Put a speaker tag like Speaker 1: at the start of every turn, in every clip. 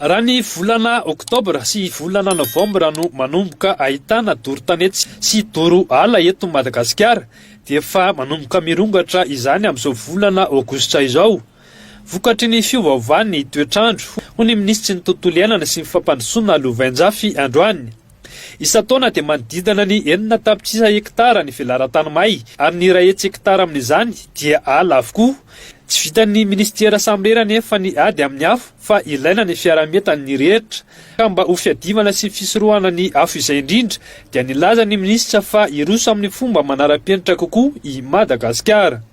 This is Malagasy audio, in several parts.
Speaker 1: Raha ny volana oktobra sy volana novambra no manomboka ahitana doro tanety sy doro ala eto Madagasikara dia efa manomboka mirongatra izany amin'izao volana aogositra izao vokatry ny fiovaovan'ny toetr'andro, hoy ny minisitry ny Tontolo iainana sy ny fampandrosoana Louvain Njafy androany. Isan-taona dia manodidina ny enina tapitrisa hekitara ny velaran-tany may ary ny iray hetsy hekitara amin'izany dia ala avokoa. Tsy vitan'ny minisitera samirery anefa ny ady amin'ny afo fa ilaina ny fiaraha-mientan'ny rehetra. Ka mba ho fiadivana sy fisorohana ny afo izay indrindra dia nilaza ny minisitra fa hiroso amin'ny fomba manara-penitra kokoa i Madagasikara.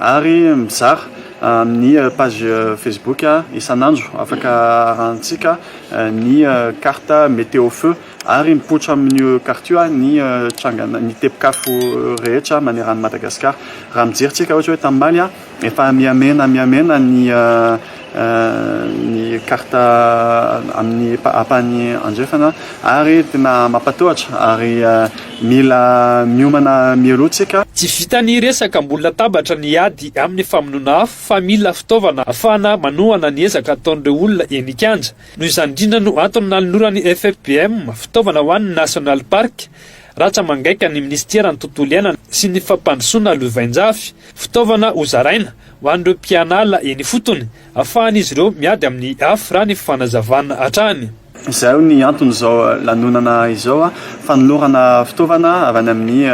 Speaker 2: Ary mizara amin'ny page Facebook isan'andro afaka arahantsika ny carte météo feu ary mipoitra amin'io carte io ny trangana ny tepikafo rehetra maneran'i Madagasikara. Raha mijery tsika ohatra hoe tany Maly efa mihamena mihamena ny ny carte amin'ny ampahany andrefana ary tena mampatahotra ary mila miomana mialoha tsika. Tsy vitan'ny
Speaker 1: resaka ambony latabatra ny ady amin'ny famonoana afo fa mila fitaovana ahafahana manohana ny ezaka ataon'ireo olona eny an-kianja. Noho izany indrindra no antony nanoloran'ny FFBM fitaovana ho an'ny National Park ratsa-mangaika ny minisiteran'ny Tontolo iainana sy ny fampandrosoana lovain-jafy, fitaovana hozaraina. Ho an'ireo mpianala eny ifotony, afahan'izy ireo miady amin'ny afo raha ny fanazavana hatrany. Izay hoy ny
Speaker 2: anton'izao lanonana izao, fanolorana fitaovana avy any amin'ny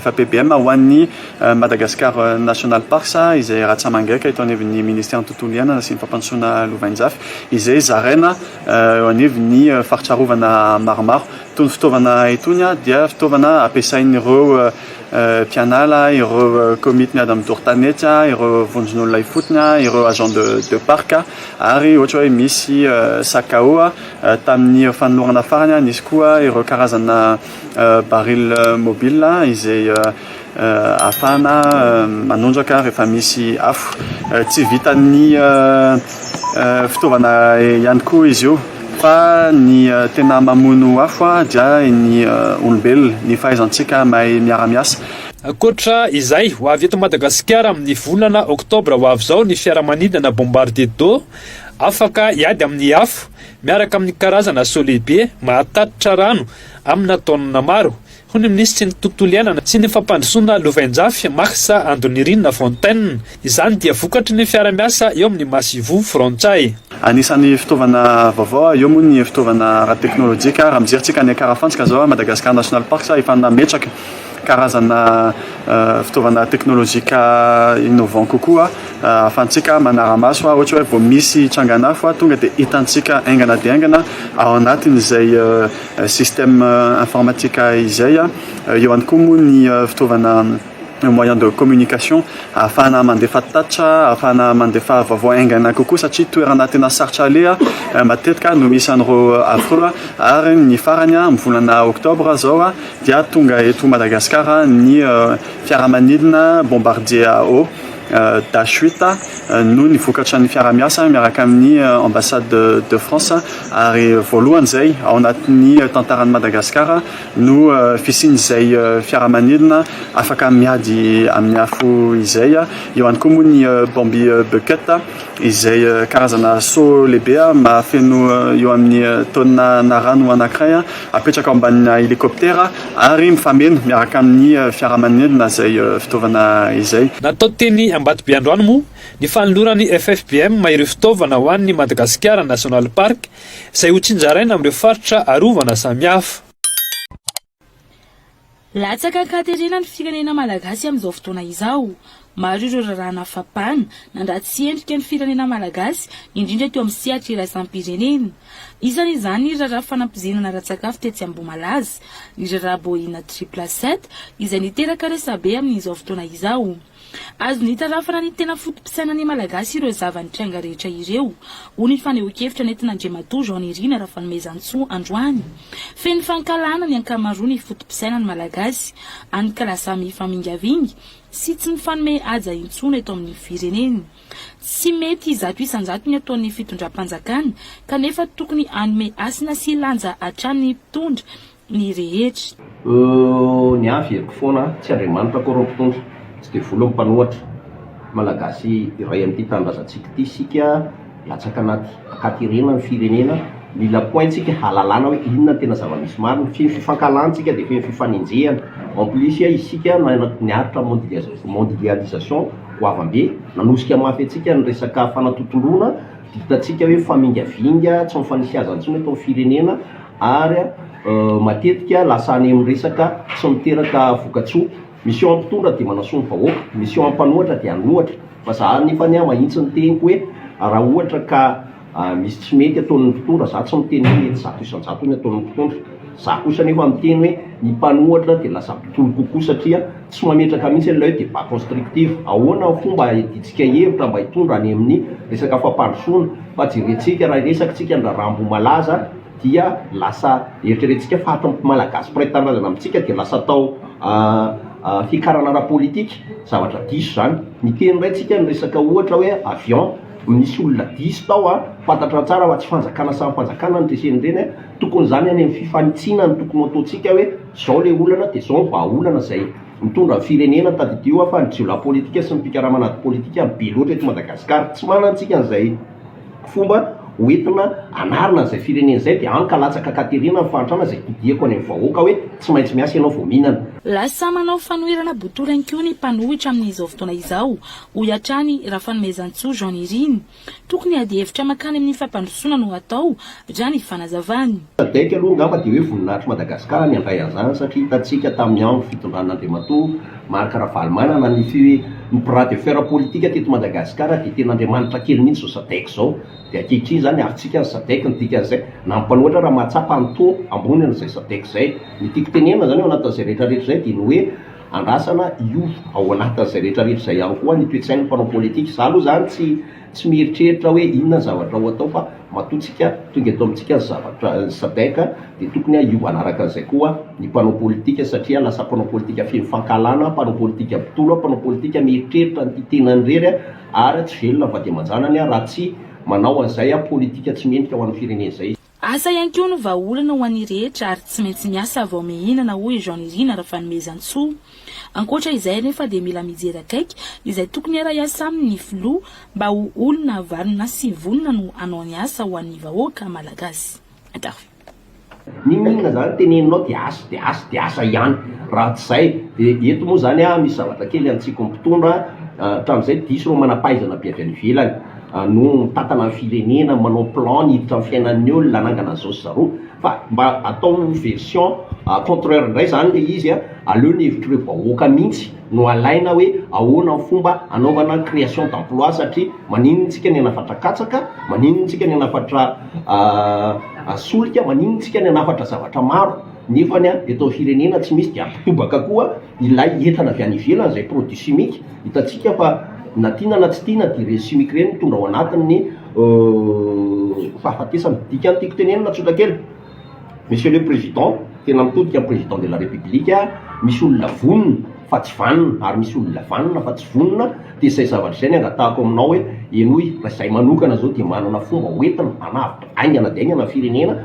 Speaker 2: FAPBM ho an'ny Madagascar National Parks izay ratsamangaika eto anivon'ny Ministeran'ny Tontolo Iainana sy ny Fampandrosoana Lovainjafy izay zaraina eo anivon'ny faritra arovana maromaro. Itony fitaovana itony dia fitaovana ampiasain'ireo mpianala, ireo komity miady amin'ny doro tanety, ireo vondron'olona ifotony, ireo agents de de parc ary ohatra hoe misy sakao tamin'ny fanolorana farany, nisy koa ireo karazana baril mobile izay Ahafahana manondraka rehefa misy afo. Tsy vitan'ny fitaovana ihany koa izy io fa ny tena mamono afo dia ny olombelona, ny fahaizantsika mahay miara-miasa. Ankoatra
Speaker 1: izay, ho avy eto Madagasikara amin'ny volana oktobra ho avy izao ny fiaramanidina Bombardier D'eau, afaka hiady amin'ny afo, miaraka amin'ny karazana solehibe mahatatitra rano amina taonina maro, hoy ny minisitry ny Tontolo iainana sy ny fampandrosoana lovainjafy, Max Andonirina Fontaine. Izany dia vokatry ny fiara-miasa eo amin'ny Massivo frantsay. Anisan'ny
Speaker 2: fitaovana vaovao eo moa ny fitaovana ara-teknolojika. Raha mijery tsika any Karafantsika izao, Madagascar National Parks, ahitana nametraka karazana fitaovana teknolojika innovant kokoa ahafantsika manara-maso ohatra hoe vao misy trangan'afo tonga dia hitantsika haingana dia haingana ao anatin'izay système informatique izay, eo ihany koa moa ny fitaovana moyen de communication ahafahana mandefa tatitra, ahafahana mandefa vaovao haingana kokoa satria toerana tena sarotra aleha matetika no misy an'ireo affreux, ary ny farany amin'ny volana octobre izao dia tonga eto Madagasikara ny fiaramanidina Bombardier AO. Dachueta no ny vokatra ny fiarahamiasa miaraka amin'ny Ambassade de France ary voalohany izay ao anatin'ny tantaran'i Madagasikara no fisian'izay fiaramanidina afaka miady amin'ny afo izay. Eo ihany koa moa ny Bambi Bucket izay karazana seau lehibe mahafeno eo amin'ny taonina na rano anankiray apetraka ao ambanina helikoptera ary mifameno miaraka amin'ny fiaramanidina izay fitaovana izay. Natao teny Ambatobe
Speaker 1: androany moa ny fanoloran'ny FFBM ireo fitaovana ho an'ny Madagasikara National Park izay ho tsinjaraina amin'ireo faritra arovana samihafa.
Speaker 3: Latsaka an-katerena ny firenena malagasy amin'izao fotoana izao. Maro ireo rarahana fampana nandratsy endrika ny firenena malagasy, indrindra teo amin'ny sehatra iraisam-pirenena. Isan'izany ny raharaha fanampoizinana ara-tsakafo tetsy Ambohimalaza, ny raharaha Boeing triple sept, izay niteraka resabe amin'izao fotoana izao. Azony itarafana ny tena foto-pisainan'ny Malagasy ireo zava-nitranga rehetra ireo, hoy ny fanehoan-kevitra nentin'Andriamatoa Jean Nirina Rafanomezantsoa androany. Feno fankahalana ny ankamaroan'ny foto-pisainan'ny Malagasy, hany ka lasa mifamingavinga sy tsy mifanome haja intsony eto amin'ny firenena. Tsy mety zato isan-jato ny ataon'ny fitondram-panjakana, kanefa tokony hanome hasina sy lanja hatrany ny mpitondra ny rehetra. Ooh
Speaker 4: ny ahy fiheviko foana a, tsy Andriamanitra akory ny mpitondra, tsy devoly ny mpanohatra. Malagasy iray amin'ity tanindrazantsika ity isika, latsaka anaty ankaterena ny firenena, mila pointsika hahalalana hoe inona no tena zava-misy marina, fehiny fifankahalantsika dia fehiny fifanenjehana, en plus isika niaritra amin'ny mondialisation goavambe, nanosika mafy antsika ny resaka fanatontoloana, dia hitantsika hoe famingavinga, tsy mifanisy haza intsony eto amin'ny firenena, ary matetika lasa any amin'ny resaka tsy miteraka vokatsoa, misy ao mpitondra dia manasoa ny vahoaka, misy ao mpanohatra dia hanohatra, fa za anefa anie mahitsy ny teniko hoe raha ohatra ka misy tsy mety ataon'ny mpitondra, za tsy miteny hoe mety zato isan-jato ny ataon'ny mpitondra, za kosa anefa miteny hoe ny mpanohatra dia lasa mpitory kokoa satria tsy mametraka mihitsy an'ilay hoe débat constructif, ahoana ny fomba hahidintsika hevitra mba hitondra any amin'ny resaka fampandrosoana, fa jerentsika raha hiresaka tsika ny raharaha Ambohimalaza, dia lasa eritreretintsika fa hatry ny Malagasy mpiray tanindrazana amintsika dia lasa atao fiakarana ara-politika, zavatra diso izany. Miteny indray tsika ny resaka ohatra hoe avion, misy olona diso tao an, fantatra tsara fa tsy fanjakana samy fanjakana no nitresen'ireny an, tokony izany any amin'ny fifanitsiana no tokony ho ataontsika hoe izao ilay olana dia izao ny vahaolana izay mitondra ny firenena, tadidio an fa ny jiolahy politika sy ny mpikaramana ady politika be loatra eto Madagasikara, tsy manana tsika an'izay fomba hoentina hanarina an'izay firenena izay dia any ka latsaka ka terena ny fahantrana izay todiako any amin'ny vahoaka hoe tsy maintsy miasa ianao vao mihinana. Lasa manao
Speaker 3: fanoherana botolo ihany koa ny mpanohitra amin'izao fotoana izao, hoy hatrany Rafanomezantsoa Jean Nirina. Tokony ady hevitra mankany amin'ny fampandrosoana no hatao, raha ny fanazavany. Sadec aloha angamba
Speaker 4: dia hoe voninahitr'i Madagasikara ny handray an'izany satria hitantsika tamin'ny andro fitondran'Andriamatoa Marc Ravalomanana ny fi ny bras de fer politika teto Madagasikara dia tena Andriamanitra kely mihitsy izao Sadec izao dia ankehitriny izany havintsika ny Sadec ny dikan'izay na ny mpanohatra raha mahatsapa ny taux ambony an'izay Sadec izay ny tiako tenenina izany ao anatin'izay rehetrarehetra izay dia ny hoe andrasana hiova ao anatin'izay rehetrarehetra izay ihany koa ny toe-tsain'ny mpanao politika izaho aloha izany tsy Tsy mieritreritra hoe inona ny zavatra ho atao fa matoa tsika tonga eto amintsika ny zavatra Sadec dia tokony hiova hanaraka an'izay koa ny mpanao politika satria lasa mpanao politika feno fankahalana, mpanao politika mpitolona, mpanao politika mieritreritra an'ity tenany irery ary tsy velona vady aman-janany raha tsy manao an'izay politika tsy mendrika ho an'ny firenena izay. Asa ihany koa no
Speaker 3: vahaolana ho an'ny rehetra ary tsy maintsy miasa vao mihinana, hoy i Jean Nirina Rafanomezantsoa. Ankoatra izay anefa dia mila mijery akaiky izay tokony hiara-hiasa aminy ny filoha mba ho olona vanona sy vonona no hanao ny asa ho an'ny vahoaka malagasy. Inona
Speaker 4: inona zany teneninao dia asa dia asa dia asa ihany raha tsy zay dia eto moa zany misy zavatra kely antsiko mpitondra hatramizay diso ireo manampahaizana avy any ivelany. no mitantana ny firenena, manao plan ny hiditra amin'ny fiainan'ny olona, hanangana izao sy zareo, fa mba atao version contraire indray izany ilay izy an, aleo ny hevitr'ireo vahoaka mihintsy no alaina hoe ahoana ny fomba hanaovana création d'emploi satria maninona isika ny hanafatra katsaka, maninona isika ny hanafatra solika, maninona isika ny hanafatra zavatra maro nefany an eto amin'ny firenena tsy misy dia mitobaka koa. Ilay entana avy any ivelany izay produit chimique, hitantsika fa na tiana na tsy tiana dia ireny chimique ireny mitondra ao anatiny ny fahafatesana. Dikan'ny tiako tenenina tsotra kely, Monsieur le Président, tena mitodika amin'ny Président de la République aho, misy olona vonona fa tsy vanona ary misy olona vanona fa tsy vonona, dia izay zavatra izay no angatahako aminao hoe henoy, raha izahay manokana izao dia manana fomba hoentina hanavotra haingana dia haingana ny firenena,